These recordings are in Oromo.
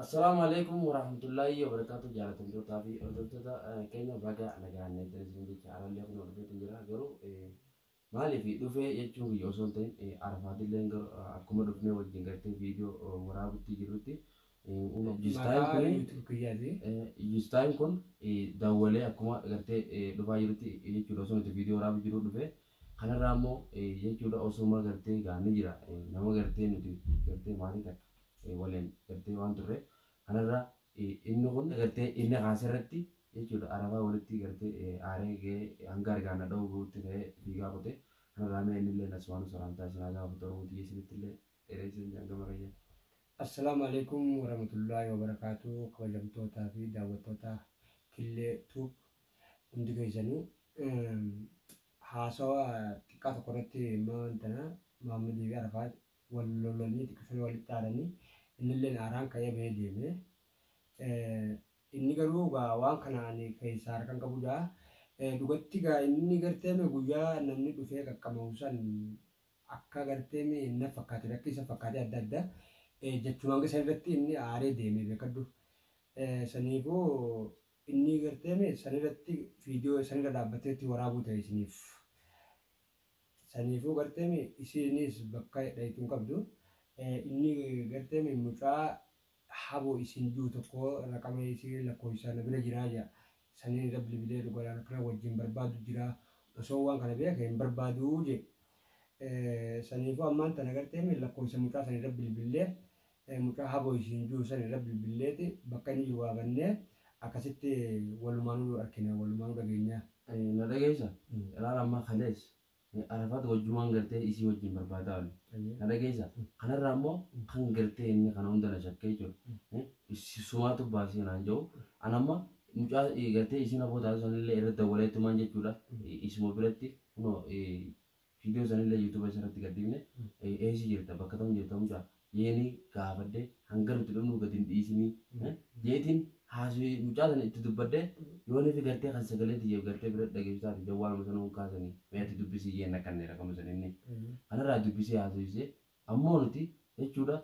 Assalaamu alaikum warahmatullaahi wabarakaatu jaalatamtootaa fi hordoftoota eh, keenya baga nagaan eegdan isin jecha arallee kun hordofeetu jira garuu eh, maaliif dhufee jechuun kiyya osoo hin ta'in eh, arafaadilleen garuu eh, akkuma dhufnee wajjin gartee viidiyoo eh, waraabutti jirrutti eh, uuma jistaayin Maqaa kuni YouTube kiyyaati. jistaayin kun eh, dawwalee akkuma gartee eh, dhufaa jirutti eh, jechuudha osoo nuti viidiyoo waraabu jiru dhufee Kanarraa immoo jechuudha osuma gartee egaa ni jira nama gartee nuti gartee maatii takka waliin gartee waan turre kanarraa inni kun gartee inni kaase irratti jechuudha arabaa walitti gartee aaree ga'ee hanga argaan na dha'uu ga'utti ka'ee fiigaa kutee kanarraa mee inni illee asumaanuu salaamtaa isin haa gaafatu oromoo tiyya isinitti illee dheereessan jaan gama kiyya. Assalaamu alaikum warahmatullahi wabarakaatu kabajamtootaa fi daawwattoota Killee Tube hundi keessanuu. Haasawa xiqqaa tokko irratti immoo wantana Maammadii fi Arafaat wal lolanii xiqqisanii walitti aaranii innilleen aaraan ka'ee bahee deeme. Inni garuu gaa waan kana ani keessaa harkan qabudha. Dhugatti gaa inni garteeme guyyaa namni dhufee qaqqamahu san akka garteeme na fakkaate akka isa fakkaatee adda adda jechumaan san irratti inni aaree deeme beekadhu. Saniifuu Innii gartee mee saniratti video sanirra dhaabbatee itti waraabuu ta'e isiniif. Saniifuu gartee mee isiiniis bakka dhayxu hin qabdu. Innii gartee mee mucaa haboo isiin ji'u tokkoo raqama isii lakkooysaa na bira jiraa ja'a. Sanii irra bilbilee dhugaadha rakna wajjiin barbaadu jiraa. Osoo waan kana beeke hin barbaaduu ja'i. Saniifuu ammaan tana gartee mee lakkooysa mucaa sanirra bilbillee Ee mucaa haboo isiin jiru san irra bilbilleeti bakka inni jiru waamannee akkasitti walumaanuu arkinaa walumaanuu dhageenyaa. Na dhageessa ilaala amma kalees arafaat wajjumaan gartee isii wajjin barbaadaa olle na dhageessa kanarraa immoo kan gartee inni kana hunda na shakkee jechuudha sumaatu baasee naan jedhu an amma mucaa gartee isiin haboo taatu sanillee irra dawwaleetumaan jechuudha isuma biratti kunoo Video sanille YouTube isa irratti gad dhifne eesi jirta bakka tam jirta muca jeeni gaafadhe hanga nuti dhumnu gad hin dhiisini jeetin haaswi mucaa sana itti dubbadhe yoonifi gartee kan sagalee tiyya gartee bira dhageessu taate jawwaaluma sana hin kaasani mee ati dubbisi jeen rakkanne rakkanno san inni kana irraa dubbisee haasofise ammoo nuti jechuudha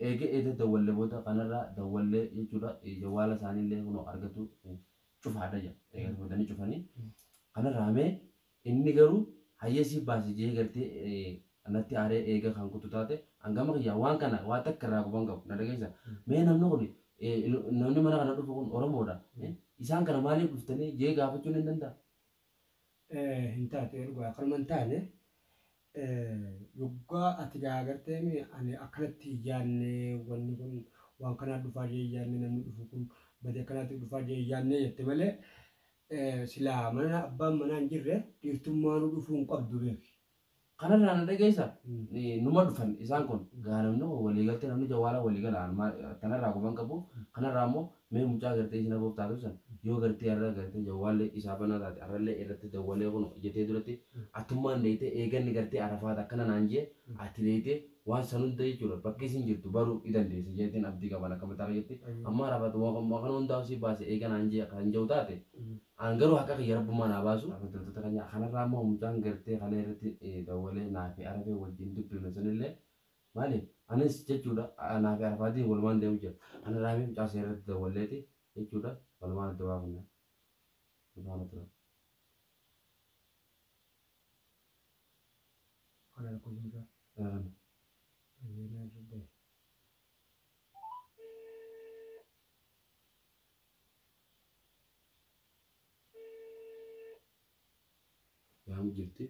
eega eeda dawwalle booda kana irraa dawwalle jechuudha jawwaala isaanillee kunoo argatu cufaadha jedha eega tumatanii cufanii kana irraa mee Inni garuu hayyee siif baasi je'ee gartee natti aaree eega kan kuttu taate an gama kiyyaan waan kana waan takka irraa quban qabu na dhageessa mee namni kun namni mana kana dhufu kun oromoodha isaan kana maaliif dhuftanii je'ee gaafachuun hin danda'a. hin taatu erga waa kanuma hin taane Yoggaa ati gaagartee mi ani akkanatti hin yaadne wanni kun waan kanaa dhufaa jee hin yaadne namni dhufu kun badi akkanaatiif dhufaa jee hin yaadne jette malee silaa mana abbaan manaa hin jirre dhiirtummaanuu dhufuu hin qabdu beeki. Kanarraa na dhageessa numa dhufan isaan kun gaa namni kun walii galtee namni jawwaala walii gala tanarraa guban qabu kanarraa immoo Mee mucaa gartee isin aboof taatu san yoo gartee har'a gartee jawwaalli isaa banaa taate har'allee irratti dawwalee kuno jetee duratti atummaan dheeytee eeganni gartee arafaat akkana naan jee ati dheeytee waan san hunda jechuudha bakka isin jirtu baruu ni dandeessa jeetiin abdii qaba an akka mataa kiyyatti amma arafaat waan kana hundaa'u si baase eega naan jee kan jawu taate an garuu haqa kiyya rabbummaa naa baasu hordoftoota keenya kanarraa immoo mucaan gartee kalee irratti dawwalee naa fi arafee wajjin dubbifne sanillee Maaliif? Anis jechuudha anaa fi Arafaatiin walumaan deemu jira. Ana Raamii mucaa seera irratti dawwalleeti jechuudha walumaan adda baafanna. Nu faana tura. Kan harkuu mucaa. Eegan. Baay'ee na dadhabe. Yaamu jirti.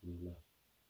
Bismillah.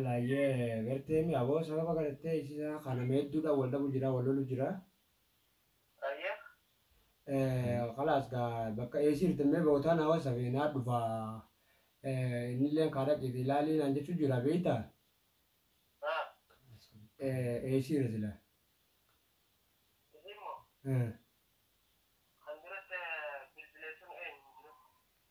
L hayyee garteemi aboo sababa garattee isisa kana meedduudhaan wal dhabu jira wal lolu jira. Kalaas gaa bakka eesii jirtan mee bootaa naa wasafi naa dhufa innilleen kaa dhaqiiti ilaalii naan jechuu jira beeyta. Eesii jira sila.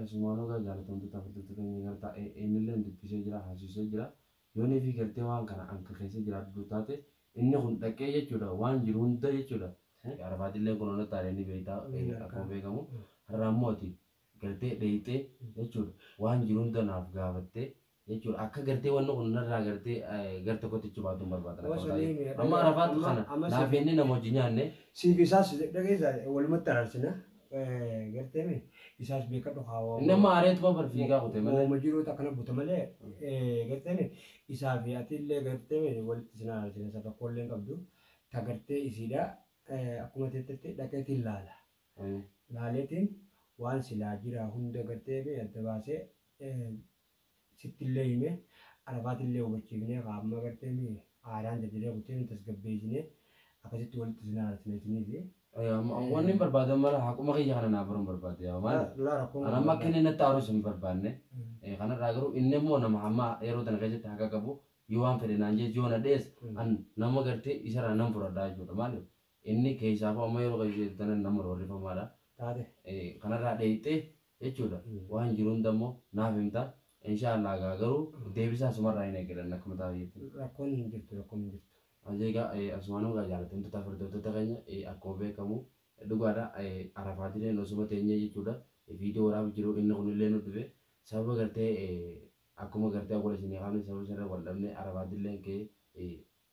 Asumaan ogaa jaalatamtoota hordoftoota keenya gartaa innilleen dubbisee jira haasisee jira yoonii fi gartee waan kana anka keessa jiraadhu taate inni kun dhaqee jechuudha waan jiru hunda jechuudha arabaatillee kun hunda taaree ni beektaa akkuma beekamu har'aa immoo ati gartee dheeyxee jechuudha waan jiru hunda naaf gaafattee jechuudha akka gartee wanni kun narraa gartee gar tokkotti ichi baatuun barbaada Woo rakkoon sanii taa'ee. mi'a amma dhagaa- arafaatu amma- kana amma naaf si- inni nama wajjin nyaanne Siif isaas dhageessa walumatti araarsina. Eh, Gartee mi isaas beekadhu kaawaa. inni amma aareetuma bar fiigaa kutee malee Wooma jiruutu akkana buta malee eh, gartee mi isaa fi ati illee gartee mi walitti isin araarsina isa tokko illee hin qabdu. Ta gartee isiidha eh, akkuma teettetti dhaqeetiin laala. Mm. Laaleetiin waan silaa jira hunda gartee mi adda baasee eh, sittillee himee Arafaatillee hubachiifnee kaa amma agartee mii aadaan jajjiree kuttee nu tasgabbeessinee akkasitti walitti isin araarsina isiniifi. Wanni hin barbaadan mara haquma kiyya kana naa baruun barbaade yaa maali? Dulaa rakkoon An amma akka inni natti aarus hin barbaanne. Kanarraa garuu inni immoo nama hamma yeroo tana keessatti haqa qabu yoo waan fedhe naan jees yoo na dhees an nama gartee isarraa nan fudhadha jechuudha maaliif inni keessaafuu amma yeroo keessa jirtu tana nama roorrifamaadha. Taate. Kanarraa dheeyxee jechuudha waan jiru hunda immoo naaf himta inshaa Allah gaa garuu deebisaa sumarraa hin eegalan akkuma taa'u jettan. Rakkoon hin jirtu rakkoon hin jirtu. Ajee gaa asumaanuu gaa jaalatamtoota firdoftoota keenya akkuma beekamu dhugaadha arafaatileen osuma teenyee jechuudha viidiyoo waraabu jiru inni kunillee nu dhufe sababa gartee akkuma gartee awwala isinii kaafne sababa sanirra wal dhabne arafaatileen kee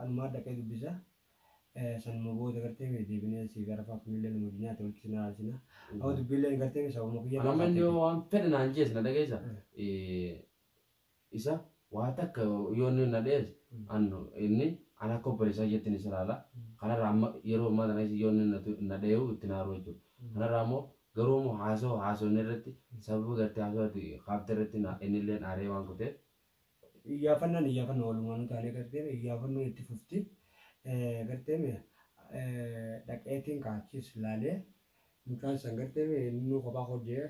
Anumaa dhaqee dubbisa sanuma booda gartee mee deebinee siif arafaa kunillee nama addunyaatti walitti sin araarsina amma dubbiilleen gartee mee sababuma kiyya Kan amma inni yoo waan fedhe naan jees na dhageessa. Isa waa takka yoo inni na dhees an inni an akka obboleessaa jettiin isa ilaala. Kanarraa amma yeroo ammaa tana yoo inni na tu- na dheehu itti naaruu jechuudha. Kanarraa immoo garuu immoo haasoo haasofne irratti sababa gartee haasoo ati kaafte irratti na- inni illee aaree waan kuteef Iyyaafannaan iyyaafannoo walumaanuu taanee garteeme iyyaafannoo itti fufti garteeme dhaqeetiin kaachiis laalee mucaan san garteeme innuu kophaa hojjee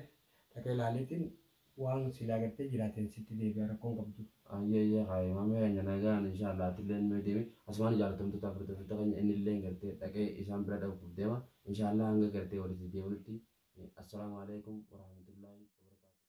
dhaqee laaleetiin waan silaa gartee jiraateen sitti deebi'a rakkoon qabdu. Ayyee ayyee kaayee maamee keenya nagaan inshaallah atilleen mee deemi asumaan jaalatamtoota hordoftoota keenya innilleen gartee dhaqee isaan bira dhaquuf deema inshaallah hanga gartee walitti deebinutti assalaamu alaikum warahmatullaahi wabarakaatuh.